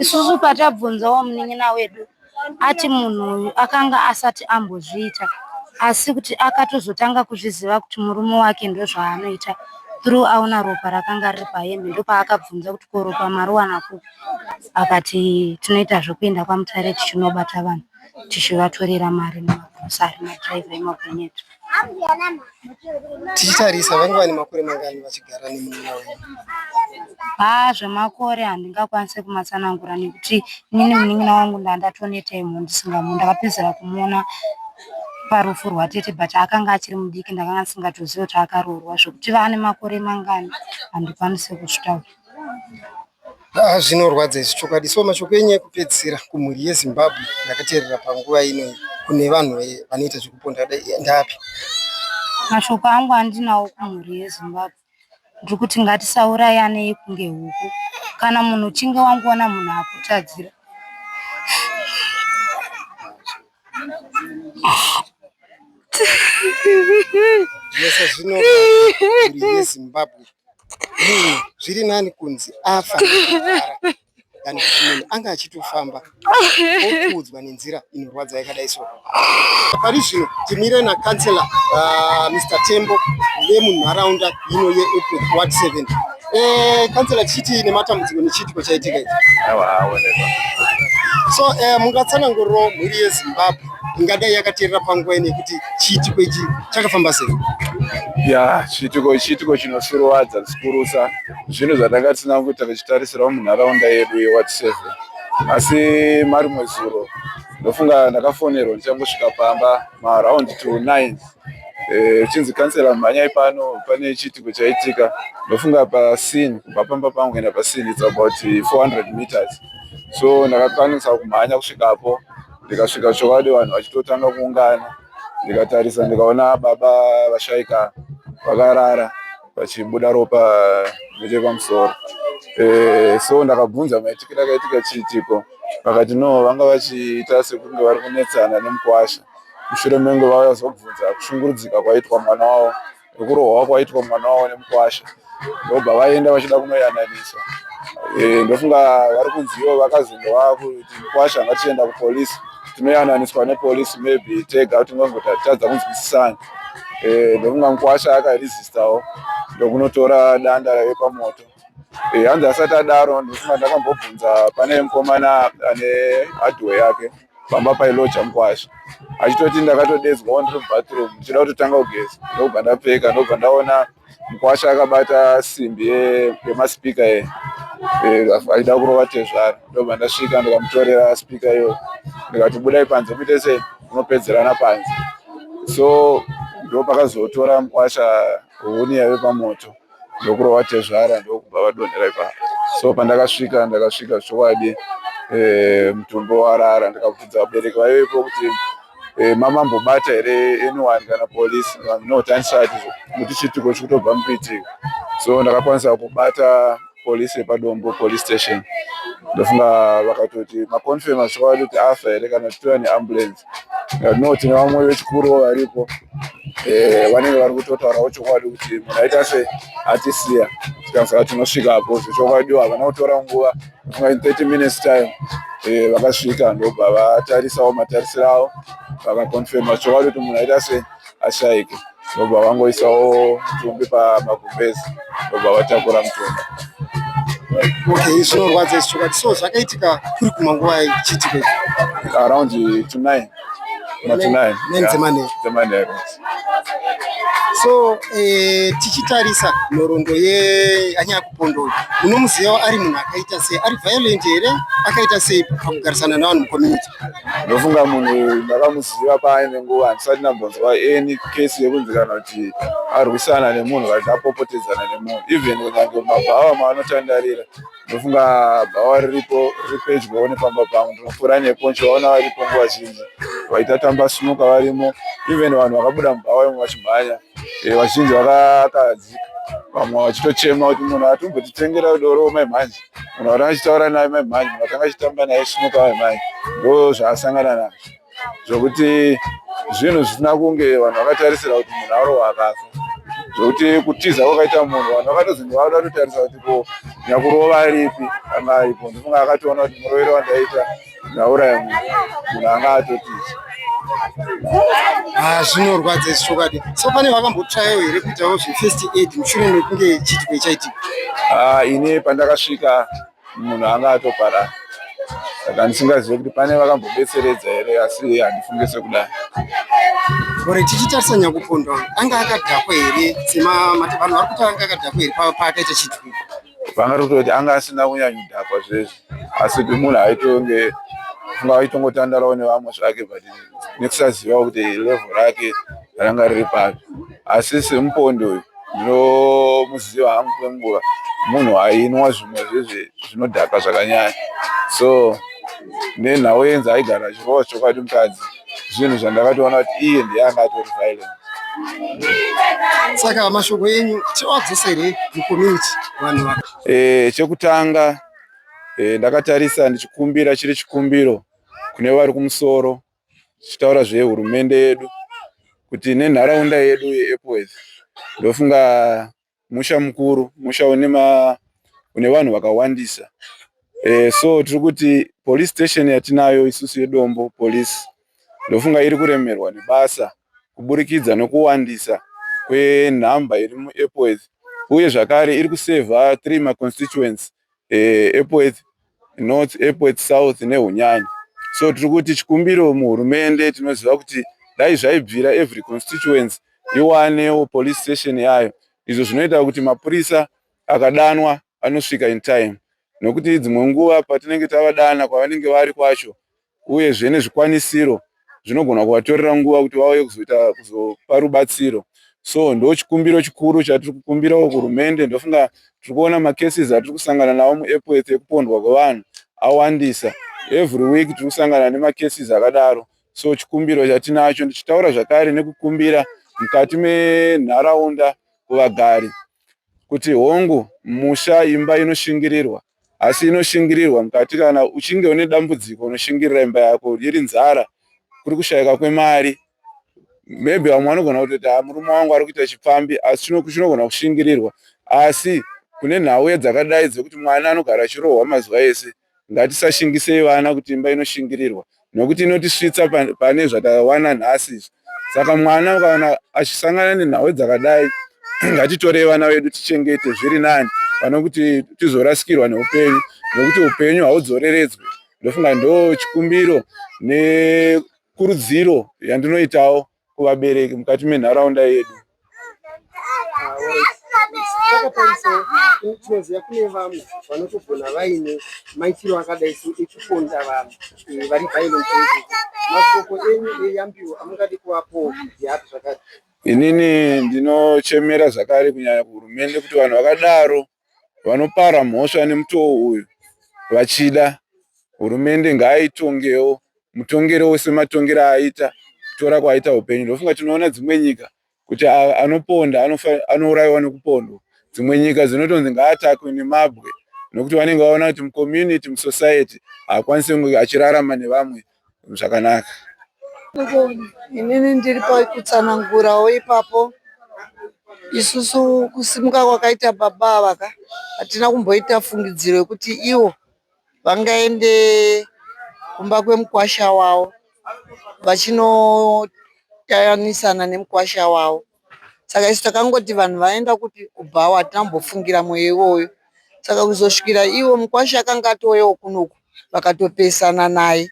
isusu patabvunzawo munin'ina wedu ati munhu uyu akanga asati ambozviita asi kuti akatozotanga kuzviziva kuti murume wake ndozvaanoita through aona ropa rakanga riri pahembe ndopaakabvunza kuti ko ropa mariwana kupi akati tinoita zvekuenda kwamutare tichinobata vanhu tichivatorera mari nemagrosari madriver emagonyeti tichitarisa vange vane makore mangani vachigara nemunana wenyu haa zvemakore handingakwanise kumatsanangura nekuti inini munin'ina wangu ndandatoneta imho ndisingamu ndakapedzera kumuona parufu rwatete but akanga achiri mudiki ndakanga ndisingatozivi kuti akaroorwa zvekuti vane makore mangani handikwanise kuzvitaura Haa zvinorwadza izvi chokwadi so mashoko enyu ekupedzisira kumhuri yezimbabwe ndakateerera panguva ino kune vanhu vanoita zvekuponda kudai ndapi mashoko angu andinawo kumhuri yezimbabwe ndiri kuti ngatisaurayanei kunge huku kana munhu uchinge wangoona munhu akutadzira Yes, zvino uri Zimbabwe. Munhu zviri nani kunzi afa kana kuti munhu anga achitofamba okuudzwa nenzira inorwadza yakadai so. Pari zvino timire na councillor uh, Mr Tembo vemunharaunda ino yeEpworth Ward 7 Eh, kansela chiti nematambudziko nechiitiko chaitika ichi. Awa aoneka. So eh, mungatsananguriro mhuri yeZimbabwe ingadai yakateerera panguva ino yekuti chiitiko ichi chakafamba sei? Ya, chiitiko chiitiko chinosuruwadza zikurusa zvinhu zvatanga tisina kuita tichitarisirawo munharaunda yedu yeward seven asi marimwe zuro ndofunga ndakafonerwa ndichangosvika pamba maround to nine Eh, chinzi kansela mhanyai pano pane chiitiko chaitika ndofunga pasin kubva pamba pangu kuenda pasin its about 400 meters so ndakakwanisa kumhanya kusvikapo ndikasvika chokwadi vanhu vachitotanga kuungana ndikatarisa ndikaona baba vashaika vakarara vachibuda ropa nechepamusoro eh, so ndakabvunza maitikiro akaitika chiitiko vakati no vanga vachiita sekunge vari kunetsana nemukwasha mushure menge vauya zobvunza kushungurudzika kwaitwa mwana wavo nekurohwa kwaitwa mwana wavo nemukwasha ndobva vaenda vachida kunoyananisa eh, ndofunga vari kunziwo vakazenge vakuti mukwasha ngatienda kupolisi tinoyananiswa nepolisi maybe tega kuti ngongotatadza kunzwisisana eh, ndofunga mukwasha akaresistawo ndokunotora danda rave pamoto eh, hanzi asati adaro ndofunga ndakambobvunza pane mukomana ane hardware yake pamba pailocha mukwasha achitoti ndakatodedzwa wandiri mubathroom ndichida kutotanga kugeza ndokubva ndapfeka ndokubva ndaona mukwasha akabata simbi yemaspika ye achida kurova tezvara ndokubva ndasvika ndikamutorera spika iyo ndikati budai panze muite se unopedzerana panze so ndopakazotora mukwasha huni yave pamoto ndokurova tezvara ndokubva vadonhera ipapo so pandakasvika ndakasvika zvichokwadi eh, mutumbi warara ndikabvunza vabereki vaivepo kuti eh, mama mbobata here anyone kana polisi no tanisati kuti chitiko chikutobva mupitiko so ndakakwanisa kubata police yepadombo police station ndofunga vakatoti maconfirma chokwadi kuti afa here kana titora neambulance no tine vamwe vechikuruwo varipo eh, vanenge vari kutotaurawo chokwadi kuti munhu aita se atisiya tikasaka tinosvika apo zvechokwadi havana kutora nguva ndofunga in 30 minutes time eh, vakasvika ndobva vatarisawo matarisiro avo vakaconfirma chokwadi kuti munhu aita se ashaike ndobva vangoisawo mutumbi pamagumbezi ndobva vatakura mutumbi okay zvinorwadza izvi chokwadi so zvakaitika kuri kuma nguva chiitika around to nine dzemanheru so eh, tichitarisa nhoroondo yeanyaya kupondoyo munomuziva ari munhu akaita sei ari violent here akaita sei pakugarisana navanhu mucommunity ndofunga munhu uyu ndakamuziva paaine nguva handisati ndambonzwa any case yekunzikana kuti arwisana nemunhu kati apopotedzana nemunhu even kunyange mabhawa maanotandarira ndofunga bhawa riripo riri pedyowo nepamba pangu ndinopfuura nepo ndichivaona varipo nguva zhinji vaita tamba sunuka varimo even vanhu vakabuda mubhawa imwe vachimhanya eh, vazhinji vakakadzika vamwe vachitochema kuti munhu atombotitengera doro mai mhanje munhu watanga achitaura naye mai mhanyi munhu watanga achitamba naye smuka mai mhanyi ndo zvaasangana nazvo zvokuti zvinhu zvisina kunge vanhu vakatarisira kuti munhu arohwa akafa zvokuti kutiza kwakaita munhu vanhu vakatozenge vada kutotarisa kuti ko nyakurova ripi anga aripo ndofunga akatoona kuti murovero wandaita ndauraya munhu munhu anga atotiza ah, zvinorwadza isi chokwadi so pane vakambotsvayawo here kuitawo zvefirst aid mushure mekunge chiitiko chaitika ah, ini pandakasvika munhu anga atoparara saka ndisingazive kuti pane vakambobetseredza here asi handifunge sekudai ore tichitarisa nyakupondwa anga akadhakwa here semavanhu vari kuti anga akadhakwa here paakaita chituko vanga tototi anga asina kunyanyo dhakwa zvese asi kuti munhu aitonge funga aitongotandarawo nevamwe zvake but nekusaziva kuti level rake ranga riri papi asi semupondi uyu ndinomuziva hangu kwenguva munhu ainwa zvimwe zvezve zvinodhaka zvakanyanya so nenhau yenzi aigara achirova chokwadi mukadzi zvinhu zvandakatoona kuti iye ndiye anga atori violent saka mashoko enyu tiwadzose here mucommunity vanhu va eh, chekutanga eh, ndakatarisa ndichikumbira chiri chikumbiro kune vari kumusoro tichitaura zvehurumende yedu kuti nenharaunda yedu yeepworth ndofunga musha mukuru musha une ma une vanhu vakawandisa e, so tiri kuti police station yatinayo isusu yedombo police ndofunga iri kuremerwa nebasa kuburikidza nokuwandisa kwenhamba iri muepworth uye zvakare iri kusevha three maconstituency eh, Epworth North, Epworth South neHunyanya. So tiri kuti chikumbiro muhurumende tinoziva kuti dai zvaibvira every constituency iwanewo police station yayo izvo zvinoita kuti mapurisa akadanwa anosvika in time nokuti dzimwe nguva patinenge tavadana kwavanenge vari kwacho uyezve nezvikwanisiro zvinogona kuvatorera nguva kuti vauye kuzoita kuzopa rubatsiro so ndo chikumbiro chikuru chatiri kukumbirawo kuhurumende ndofunga tiri kuona macases atiri kusangana nawo muepworth ekupondwa kwevanhu awandisa every week tiri kusangana nemacases akadaro so chikumbiro chatinacho ndichitaura zvakare nekukumbira mukati menharaunda kuvagari kuti hongu musha imba inoshingirirwa asi inoshingirirwa mukati kana uchinge une dambudziko unoshingirira imba yako iri nzara kuri kushayika kwemari maybe vamwe vanogona kutoti ha ah, murume wangu ari kuita chipfambi asi chinogona kushingirirwa asi kune nhauye dzakadai dzekuti mwana anogara achirohwa mazuva ese ngatisashingisei vana kuti imba inoshingirirwa nokuti inotisvitsa pane zvatakawana nhasi izvi saka mwana ukaona achisangana nenhau dzakadai ngatitorei vana vedu tichengete zviri nani pane kuti tizorasikirwa neupenyu nokuti upenyu haudzoreredzwe ndofunga ndo chikumbiro nekurudziro yandinoitawo kuvabereki mukati menharaunda yedu tinoziva kune vamwe vanotogona vaine maitiro akadai so ekuponda vanhu eh, vari violent masoko enyu eyambiwo amungadi kuvapo yapi zvakati inini ndinochemera zvakare kunyanya kuhurumende kuti vanhu vakadaro vanopara mhosva nemutoo uyu vachida hurumende ngaaitongewo mutongero wese matongero aita kutora kwaita upenyu ndofunga tinoona dzimwe nyika kuti anoponda anourayiwa nekupondwa dzimwe nyika dzinotonzi ngaatakwe nemabwe nokuti vanenge vaona kuti mucommunity musociety haakwanisi kunge achirarama nevamwe zvakanaka. Inini ndiri pakutsanangurawo ipapo isusu kusimuka kwakaita baba ava ka hatina kumboita fungidziro yekuti ivo vangaende kumba kwemukwasha wavo vachinotayanisana nemukwasha wavo. saka isu takangoti vanhu vaenda kupi kubhawa hatina kumbofungira mweya iwoyo saka kuzosvikira iwo mukwasha akanga atouyawo kunoku vakatopesana naye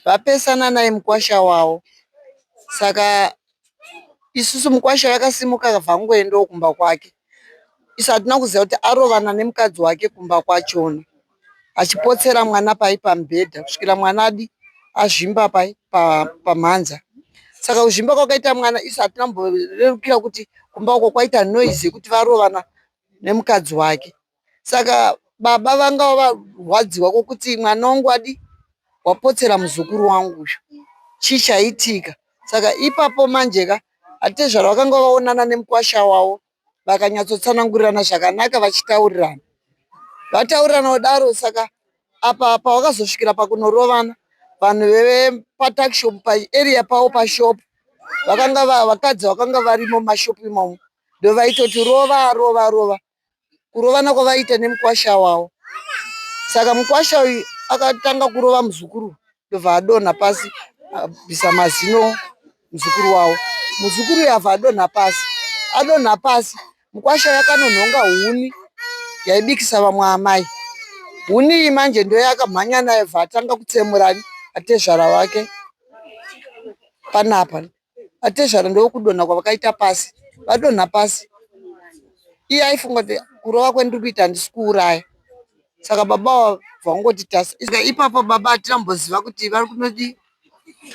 vapesana naye mukwasha wavo saka isusu mukwasha vakasimuka vangoendawo kumba kwake isu hatina kuziva kuti arovana nemukadzi wake kumba kwachona. achipotsera mwana pai pamubhedha kusvikira mwana adi azvimba pai pamhanza saka kuzvimba kwakaita mwana isu hatina kumborerukira kuti kumba uko kwaita noise yekuti varovana nemukadzi wake saka baba vanga varwadziwa kwokuti mwana wangu adi wapotsera muzukuru wangu uyu chii chaitika saka ipapo manje ka atezvara vakanga vaonana nemukwasha wavo vakanyatsotsanangurirana zvakanaka vachitaurirana. Vataurirana kudaro saka apa pavakazosvikira pakunorovana vanhu vepatakishop paarea pavo pashop vakanga vakadzi vakanga varimo mumashop imomo ndovaitoti rova rova rova kurovana kwavaiita nemukwasha wavo saka mukwasha uyu akatanga kurova muzukuru ndobva adonha pasi abvisa mazino muzukuru wavo muzukuru yava adonha pasi adonha pasi mukwasha yakanonhonga huni yaibikisa vamwe amai huni iyi manje ndoyakamhanya nayo bva atanga kutsemura atezvara vake panapa atezvara ndokudonha kwavakaita pasi vadonha pasi iye aifunga kuti kurova kwendiri kuita handisi kuuraya saka baba vangoti tasa ipapo baba hatina mboziva kuti vari kunodi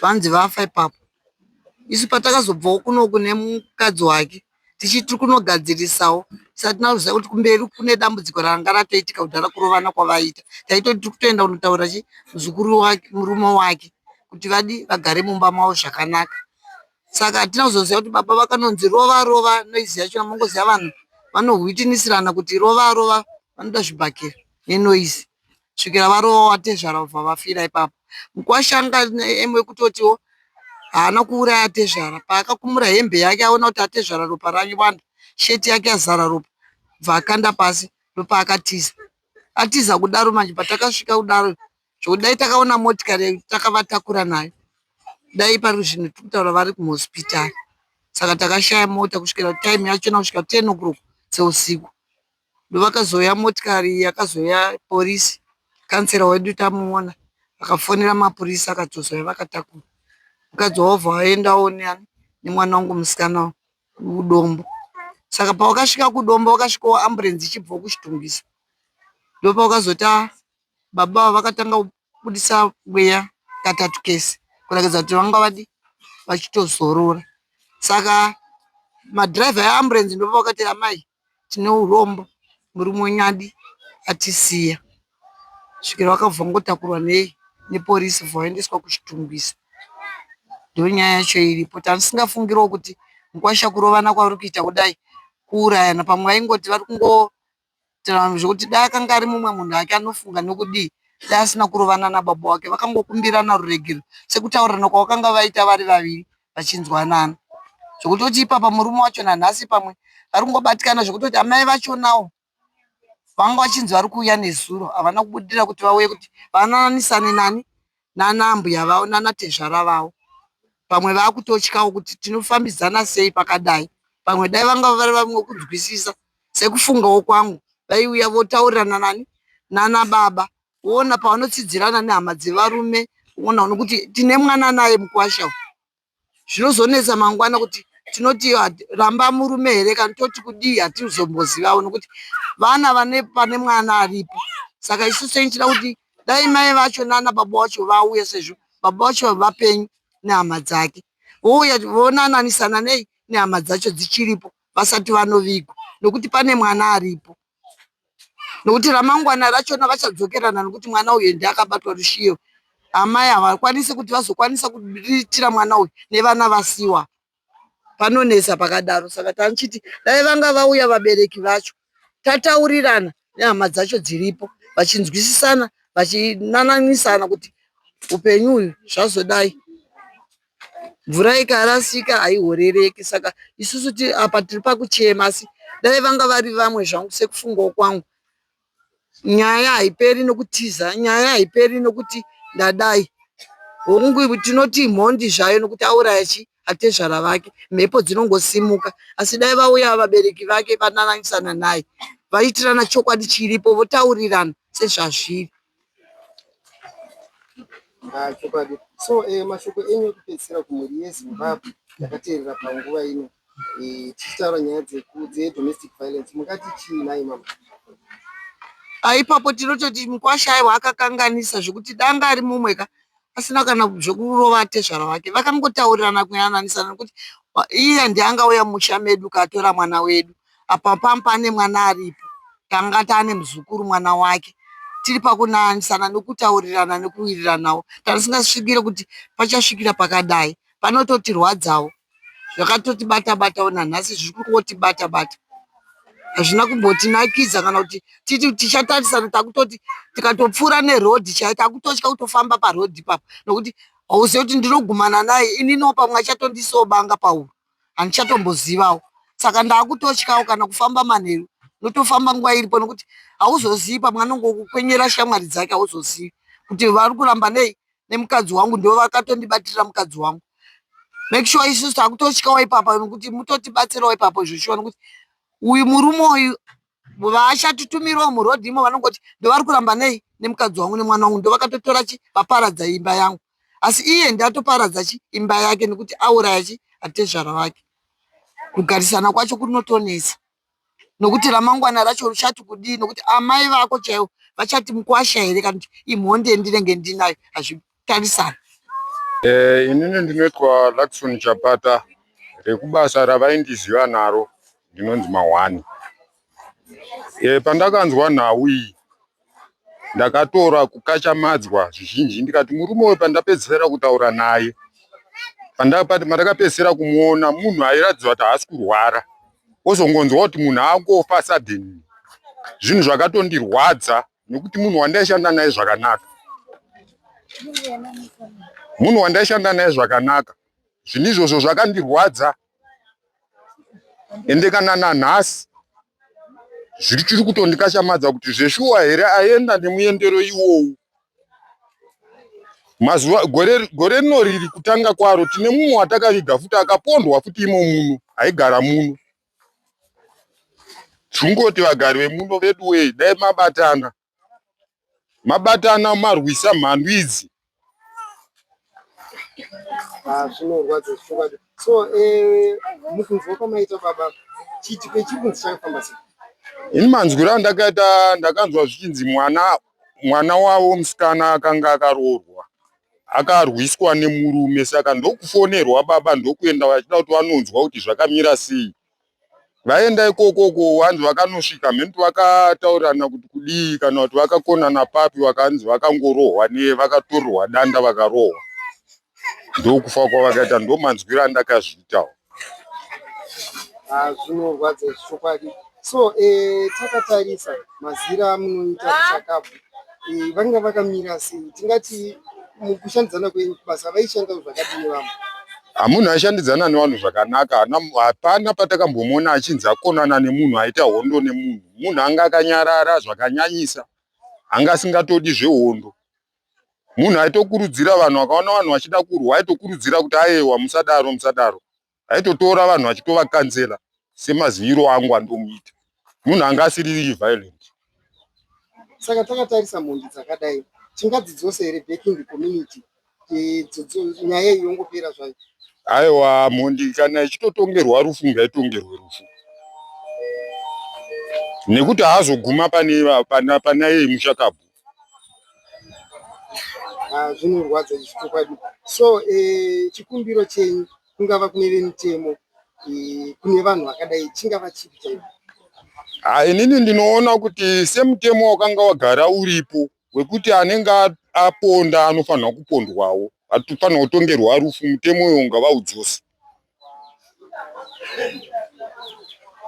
vanzi vafa ipapo. Isu patakazobvawo kunoku nemukadzi wake tichiti tiri kunogadzirisawo tisati tinyatso ziva kuti kumberi kune dambudziko ranga ratoitika kudhara kurovana kwavaiita. Taitoti tiri kutoenda kunotaurira chii muzukuru wake murume wake kuti vadii vagare mumba mavo zvakanaka. Saka hatina kuzoziva kuti baba vakanonzi rova rova noizi yacho mongoziva vanhu vanohwitinisirana kuti rova rova vanoda zvibhakera nenoizi. kusvikira varova vatezvara vobva vafira ipapo. Mukwasha anga aine kutotiwo haana kuuraya tezvara paakakumura hembe yake aona kuti atezvara ropa ranyuwanda shirt yake yazara ropa bva akanda pasi ndopaakatiza atiza kudaro manje patakasvika kudaro zvokuti dai takaona motikari takavatakura nayo dai pari zvinhu tiri kutaura vari kuhospitari saka takashaya mota kusvikira time yachona kusvika ten o'clock dzeusiku ndovakazouya motikari yakazouya police councilor wedu tamuona akafonera mapurisa akatozouya vakatakura mukadzi wavo obva aendawo neani nemwana wangu musikana kudombo saka pawakasvika kudombo wakasvikawo ambulenzi ichibvawo kuchitungisa ndopawakazota baba avo vakatanga kubudisa mweya katatu kese kuratidza kuti vanga vadi vachitozorora saka madhiraivha eambulenzi ndopavakati amai tine urombo murume wenyu adi atisiya kusvikira wakabva wangotakurwa nepolice wobva waendeswa kuChitungwiza. Ndonyaya yacho iripo tandisingafungirewo kuti mukwasha uyu kurovana kwavari kuita kudai kuurayana pamwe vaingoti vari kungoitirana zvekuti dai akanga ari mumwe munhu hake anofunga nokudii dai asina kurovana nababa vake. Vakangokumbirana ruregerero sekutaurirana kwavakanga vaita vari vaviri vachinzwanana zvekutoti ipapa murume wacho nanhasi pamwe vari kungobatikana zvekutoti amai vachonawo vanga vachinzi vari kuuya nezuro havana kubudirira kuti vauye kuti vanananisane nani nanambuya vavo nanatezvara vavo pamwe vakutotyawo kuti tinofambidzana sei pakadai pamwe dai vanga vari vamwe kunzwisisa sekufungawo kwangu vaiuya votaurirana nani nanababa woona pavanotsidzirana nehama dzevarume woona uno kuti tine mwana naye mukwasha uyu zvinozonetsa mangwana kuti tinoti ah, ramba murume here kana toti kudii hatizombozivavo nokuti vana vane pane mwana aripo saka isu senichida kuti dai mai vacho nana baba wacho vauya sezvo baba wacho vapenyu nehama dzake vouya vonananisana nei nehama dzacho dzichiripo vasati vanovigwa nokuti pane mwana aripo nokuti ramangwana rachona vachadzokerana nokuti mwana uyu ende akabatwa rushiyo amai havakwanisi kuti vazokwanisa kuriritira mwana uyu nevana vasiwa panonetsa pakadaro saka tanichiti dai vanga vauya vabereki vacho tataurirana nehama dzacho dziripo vachinzwisisana vachinananisana kuti upenyu uyu zvazodai mvura ikarasika haihorereki saka isusu apa tiri pakuchema asi dai vanga vari vamwe zvangu sekufungawo kwangu nyaya haiperi nokutiza nyaya haiperi nokuti ndadai hongu tinoti mhondi zvayo nokuti auraya chi atezvara vake mhepo dzinongosimuka asi dai vauya vabereki vake vanananisana naye vaitirana chokwadi chiripo votaurirana sezvazviri Ah, chokwadi so eh, mashoko enyu ekupedzisira kumhuri yezimbabwe yakateerera panguva ino eh, tichitaura nyaya dzeku- dzedomestic violence mungati chii nhai mama Ah, ipapo tinototi mukwasha aiwa akakanganisa zvekuti danga ari mumwe ka pasina kana zvekurova tezvara vake vakangotaurirana kuyananisana nekuti iye ndiangauya musha medu katora mwana wedu apa pam pane mwana aripo tanga taane muzukuru mwana wake tiri pakunanisana nekutaurirana nekuwiriranawo tanga tisingasvikire kuti pachasvikira pakadai panototirwadzawo zvakatotibata batawo nanhasi zviri kungotibata bata hazvina kumbotinakidza kana kuti titi tichatarisana takutoti tikatopfuura nerodhi chai takutotya kutofamba parodhi ipapo nokuti hauzive kuti ndinogumana naye ininiwo pamwe achatondisobanga pauro handichatombozivawo saka ndaakutotyawo kana kufamba manheru notofamba nguva iripo nokuti hauzozivi pamwe anongokukwenyera shamwari dzake hauzozivi kuti vari kuramba nei nemukadzi wangu ndivo vakatondibatirira mukadzi wangu make sure isusu takutotyawo ipapa nokuti mutotibatsirawo ipapo zvoshuwa nokuti uyu murume uyu vaachatitumirawo murodhi imo vanongoti ndovari kuramba nei nemukadzi wangu nemwana wangu ndovakatotora chi vaparadza imba yangu asi iye ndatoparadza chi imba yake nokuti auraya chi atezvara vake kugarisana kwacho kunotonesa nokuti ramangwana racho richati kudii nokuti amai vako chaivo vachati mukwasha here kana kuti imhonde ndinenge ndinayo hazvitarisani eh, inini ndinoitwa luckson chapata rekubasa ravaindiziva naro ndinonzi mahwani eh, pandakanzwa nhau iyi ndakatora kukachamadzwa zvizhinji ndikati murume uyu pandapedzisira kutaura naye pandakapedzisira kumuona munhu airatidza kuti haasi kurwara wozongonzwa kuti munhu akungofa sudden zvinhu zvakatondirwadza nekuti munhu wandaishanda naye zvakanaka munhu wandaishanda naye zvakanaka zvinhu izvozvo zvakandirwadza ende kana nanhasi zviri chiri kutondikashamadza kuti zveshuwa here aenda nemuendero iwowu mazuva gore gore rino riri kutanga kwaro tine mumwe watakaviga futi akapondwa futi imo muno aigara muno tungoti vagari vemuno veduwei dai mabatana mabatana marwisa mhandu idzi ah, zvinorwadza zvichokadi so eh, mukunzwa kwamaita baba chiti pechikunzi chakafamba sei ini manzwiro andakaita ndakanzwa zvichinzi mwana mwana wavo musikana akanga akaroorwa akarwiswa nemurume saka ndokufonerwa baba ndokuenda vachida kuti vanonzwa kuti zvakamira sei vaenda ikoko uko wanzi vakanosvika mhenti vakataurirana kuti kudii kana kuti vakakonana papi vakanzi vakangorohwa ne vakatorohwa danda vakarohwa ndokufa kwavakaita ndomanzwiro andakazviitawo ah, zvinorwadza chokwadi so eh, takatarisa mazira amunoita kuchakabvu eh, vanga vakamira sei tingati mukushandidzana kwenyu kubasa vaishandawo zvakadini vamwe hamunhu ashandidzana nevanhu zvakanaka hapana patakambomona achinzi akonana nemunhu aita hondo nemunhu munhu anga akanyarara zvakanyanyisa anga asingatodi zvehondo munhu aitokurudzira vanhu akaona vanhu vachida kurwa aitokurudzira kuti ayewa musadaro musadaro aitotora vanhu achitovakanzera semaziviro angu andomuita munhu anga asiri violent saka takatarisa mhondi dzakadai tingadzidzose here back in the community nyaya iyi yongopera zvayo aiwa mhondi kana ichitotongerwa rufu ngaitongerwe rufu nekuti haazoguma pane panaye mushakabvu Ah, zvinorwadza izvi chokwadi so eh, chikumbiro chenyu kungava kune vemitemo eh, kune vanhu vakadai chingava chipi chaipo Ah, inini ndinoona kuti semutemo wakanga wagara uripo wekuti anenge a- aponda anofanira kupondwawo atofanira kutongerwa rufu mutemo uyo ngavaudzose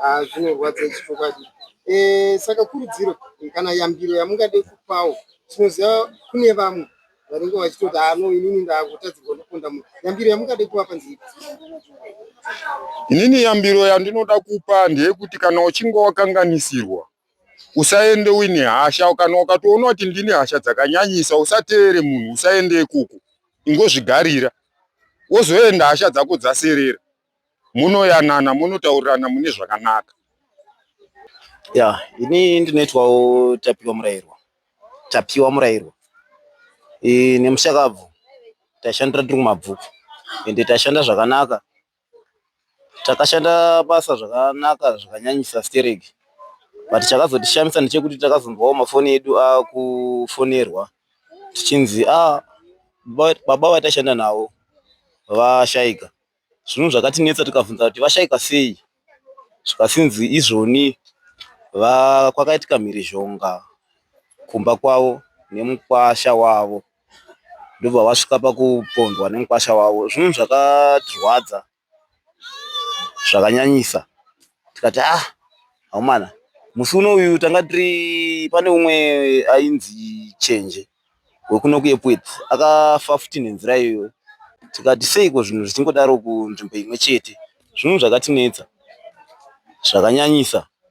Ah, zvinorwadza izvi chokwadi. Eh, saka kurudziro eh, kana yambiro yamungade kupawo tinoziva kune vamwe vanenge vachitoti ano ah, inini ndakutadzirwa ndoponda munhu yambiro yamungade kuvapa nziipi inini yambiro yandinoda kupa ndeyekuti kana uchinge wakanganisirwa usaende uine hasha kana ukatoona kuti ndine hasha dzakanyanyisa usateere munhu usaende ikoko ingozvigarira wozoenda hasha dzako dzaserera munoyanana munotaurirana mune zvakanaka ya ini ndinoitwawo tapiwa murairwa tapiwa murairwa e, nemushakabvu taishandira tiri kumabvuku ende taishanda zvakanaka Takashanda basa zvakanaka zvakanyanyisa stereki but chakazotishamisa ndechekuti takazonzwawo mafoni edu akufonerwa tichinzi ah baba vataishanda navo vashaika zvinhu zvakatinetsa tikabvunza kuti vashaika sei zvikasinzi izvoni kwakaitika mhirizhonga kumba kwavo nemukwasha wavo ndobva vasvika pakupondwa nemukwasha wavo. Zvinhu zvakatirwadza zvakanyanyisa tikati ah akomana musi uno uyu tanga tiri pane umwe ainzi Chenje wekuno kuEpworth akafa futi nenzira iyoyo tikati seiko zvinhu zvichingodaro kunzvimbo imwe chete. Zvinhu zvakatinetsa zvakanyanyisa.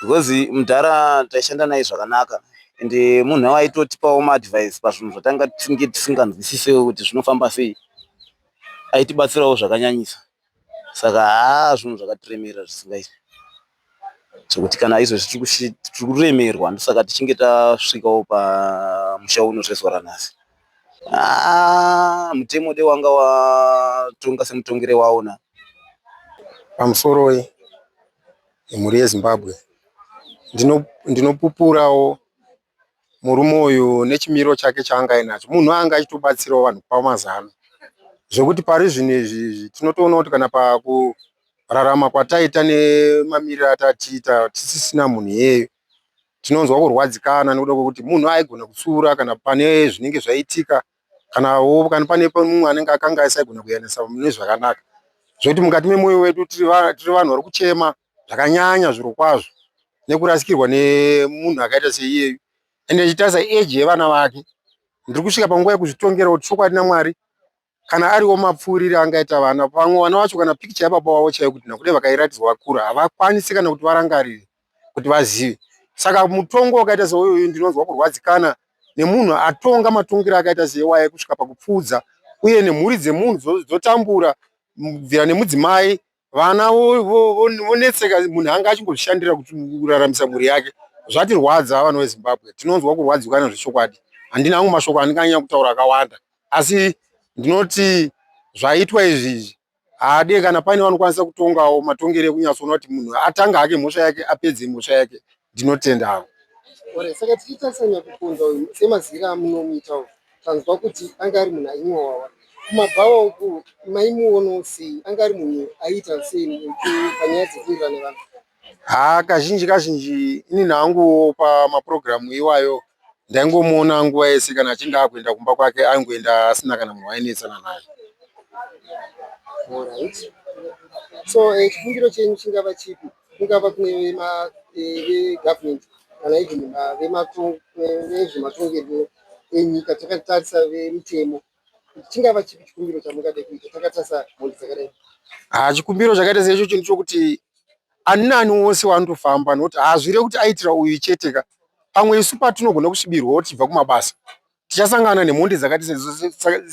because mudhara taishanda naye zvakanaka and munhu aitotipawo maadvice pazvinhu zvatanga tisinge tisinganzwisisewo kuti zvinofamba sei aitibatsirawo zvakanyanyisa saka haa zvinhu zvakatiremerera zvisingaiti zvekuti kana izvezvi tiri kuremerwa ndosaka tichinge tasvikawo pamusha uno zvezuva ranhasi Ah, mutemo de wanga watonga semutongere waona pamusoro yemhuri yezimbabwe ndinopupurawo ndino murume uyu nechimiro chake chaanga ainacho munhu anga achitobatsirawo vanhu kupa mazano zvekuti pari zvino izvi izvi tinotoona kuti kana pakurarama kwataita nemamiriro atatiita tisisina munhu iyeyo tinonzwa kurwadzikana nekuda kwekuti munhu aigona kutsiura kana pane zvinenge zvaitika kanawo kana pane mumwe anenge akanga aisagona kuyamwisa mune zvakanaka zvekuti mukati memwoyo wedu tiri vanhu vari kuchema zvakanyanya zviro kwazvo nekurasikirwa nemunhu akaita seiyeyu ende ichitarisa eji yevana vake ndiri kusvika panguva yekuzvitongera kuti chokwadi namwari kana ariwo mapfuurire angaita vana pamwe vana vacho kana pikicha yababa wavo chaiyo kuti nakuti vakairatidzwa vakura havakwanisi kana kuti varangarire kuti vazive saka mutongo wakaita seuyoyu ndinonzwa kurwadzikana nemunhu atonga matongero akaita seiwaye kusvika pakupfuudza uye nemhuri dzemunhu dzotambura kubvira nemudzimai Vana vonetseka munhu anga achingozvishandira kuraramisa mhuri yake zvatirwadza vana vezimbabwe tinonzwa kurwadzikwa nezvechokwadi handina angu mashoko andinganyanya kutaura akawanda asi ndinoti zvaitwa izvi izvi haade kana paine vanokwanisa kutongawo matongere ekunyatsoona kuti munhu atanga hake mhosva yake apedze mhosva yake Ndinotenda hangu. Ore, saka tichitarisa nyakukonza uyu semazira amunomuita uyu tanzwa kuti anga ari munhu ainyowawa kumabhawa uku maimuonawo sei anga ari munhu aiita sei panyaya dzekuwirirana vanhu haa kazhinji kazhinji inini hangu pamapurogiramu iwayo ndaingomuona nguva yese kana achinge akuenda kumba kwake aingoenda asina kana munhu wainetsana naye so eh, chifungiro chenyu chingava chipi kungava kune vegovenment eh, kana even vezvematongerwo eh, enyika takatarisa vemitemo chingava chipi chikumbiro chamungade kuita takatarisa mhondi dzakadai ha ah, chikumbiro chakaita seicho chinhu chokuti ani nani wose wanotofamba nokuti hazvire kuti aitira uyu chete ka pamwe isu patinogona kusvibirwawo tichibva kumabasa tichasangana nemhondi dzakati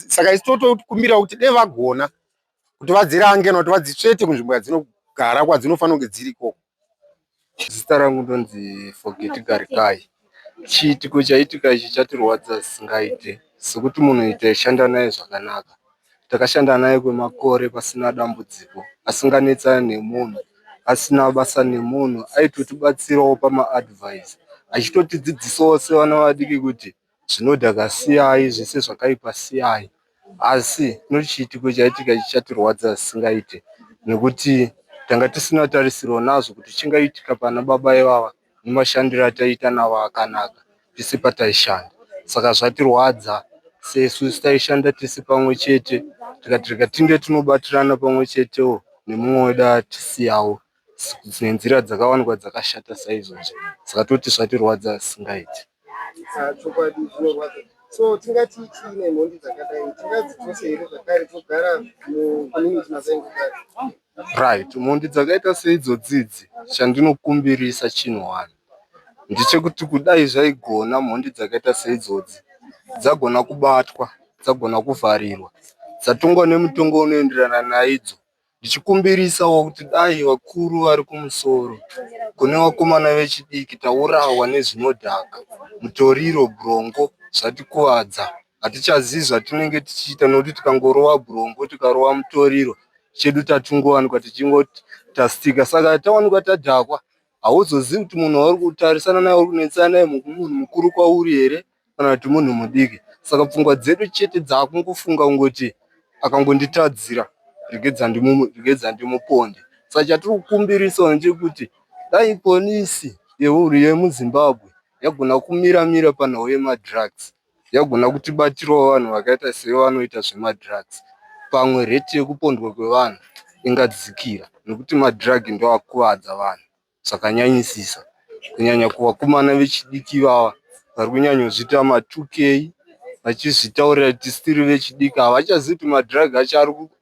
saka isu totokumbira kuti dei vagona kuti vadzirange nokuti vadzitsvete kunzvimbo yadzinogara kwadzinofanira kunge dziri ikoko zita rangu ndonzi forget garikai Chiitiko chaitika ichi chatirwadza zvisingaite sekuti munhu taishanda naye zvakanaka. Takashanda naye kwemakore pasina dambudziko asinganetsane nemunhu, asina basa nemunhu. Aitotibatsirawo pamaadhivhaisi achitotidzidzisawo sevana vadiki kuti zvinodhaka siyai, zvese zvakaipa siyai. Asi kune chiitiko chaitika ichi chatirwadza zvisingaite nekuti tanga tisina tarisiro nazvo kuti chingaitika panababa ivava. nemashandiro ataiita navo akanaka tese pataishanda saka zvatirwadza sesu taishanda tese pamwe chete tikati rega tinge tinobatirana pamwe chetewo nemumwe wedu atisiyawo nenzira dzakawanikwa dzakashata saizvozvo saka toti zvatirwadza zvisingaiti ah, chokwadi zvinorwadza so tingati chii nemhondi dzakadai tingadzitose here zvakare togara mucommunity mazaingokaa Right, mhondi dzakaita seidzodzi idzi chandinokumbirisa chinhu one ndechekuti kudai zvaigona mhondi dzakaita seidzodzi dzagona kubatwa dzagona kuvharirwa dzatongwa nemutongo unoenderana naidzo ndichikumbirisawo kuti dai vakuru vari kumusoro kune vakomana vechidiki taurawa nezvinodhaka mutoriro brongo zvatikuvadza. hatichazivi zvatinenge tichiita nokuti tikangorova bwurombo tikarova mutoriro chedu tatingowanikwa tichingoti tastika saka tawanikwa tadhakwa hauzozivi kuti munhu wauri kutarisana naye uri kunetsana naye munhu mukuru kwauri here kana kuti munhu mudiki saka pfungwa dzedu chete dzaakungofunga kungoti akangonditadzira regedza ndimuponde saka chatiri kukumbirisawo ndechekuti dai polisi yemuzimbabwe yagona kumira mira panhau yemadrugs yagona kutibatirawo vanhu vakaita sevanoita zvemadrugs pamwe rate yekupondwa kwevanhu ingadzikira nekuti madrug ndiwo akukuvadza vanhu zvakanyanyisisa kunyanya kuvakomana vechidiki ivava vari kunyanyozviita ma 2k vachizvitaurira kuti still vechidiki havachazivi kuti madrug acho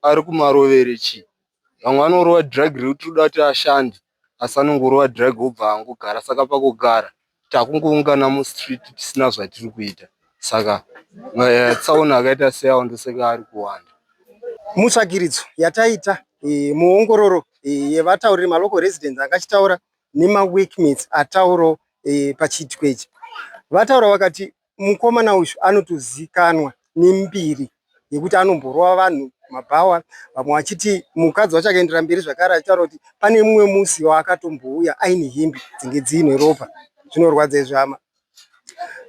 arikumarovere chii vamwe vanorova drug rekuti tiri kuda kuti ashande. asi anongorova drug obva angogara saka pakugara takungoungana mustreet tisina zvatiri kuita saka eh, tsaona akaita seyawo ndoseka ari kuwanda mutsvagiridzo yataita eh, muongororo eh, yevatauriri malocal residents akachitaura nemaweekmates atauro pachiitiko ichi vataura vakati mukomana uyu anotozikanwa nembiri yekuti anomborova vanhu mabhawa vamwe vachiti mukadzi wacho akaendera mberi zvakare achitaura kuti pane mumwe musi waakatombouya aine hembe dzinge dziine ropa zvinorwadza izvi hama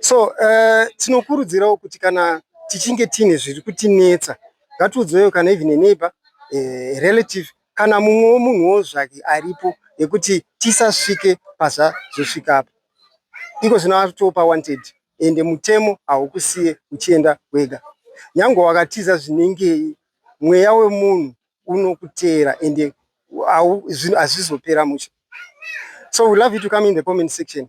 so uh, tinokurudzirawo kuti kana tichinge tiine zviri kutinetsa ngatiudzewo kana even eneighbor uh, eh, relative kana mumwewo munhuwo zvake aripo nekuti tisasvike pazvazosvika apa. Iko zvino ava kutoo pawanted ende mutemo haukusiye uchienda wega. Nyangwe wakatiza zvinengei mweya wemunhu unokuteera ende hazvizopera mushe. So we love you to come in the comment section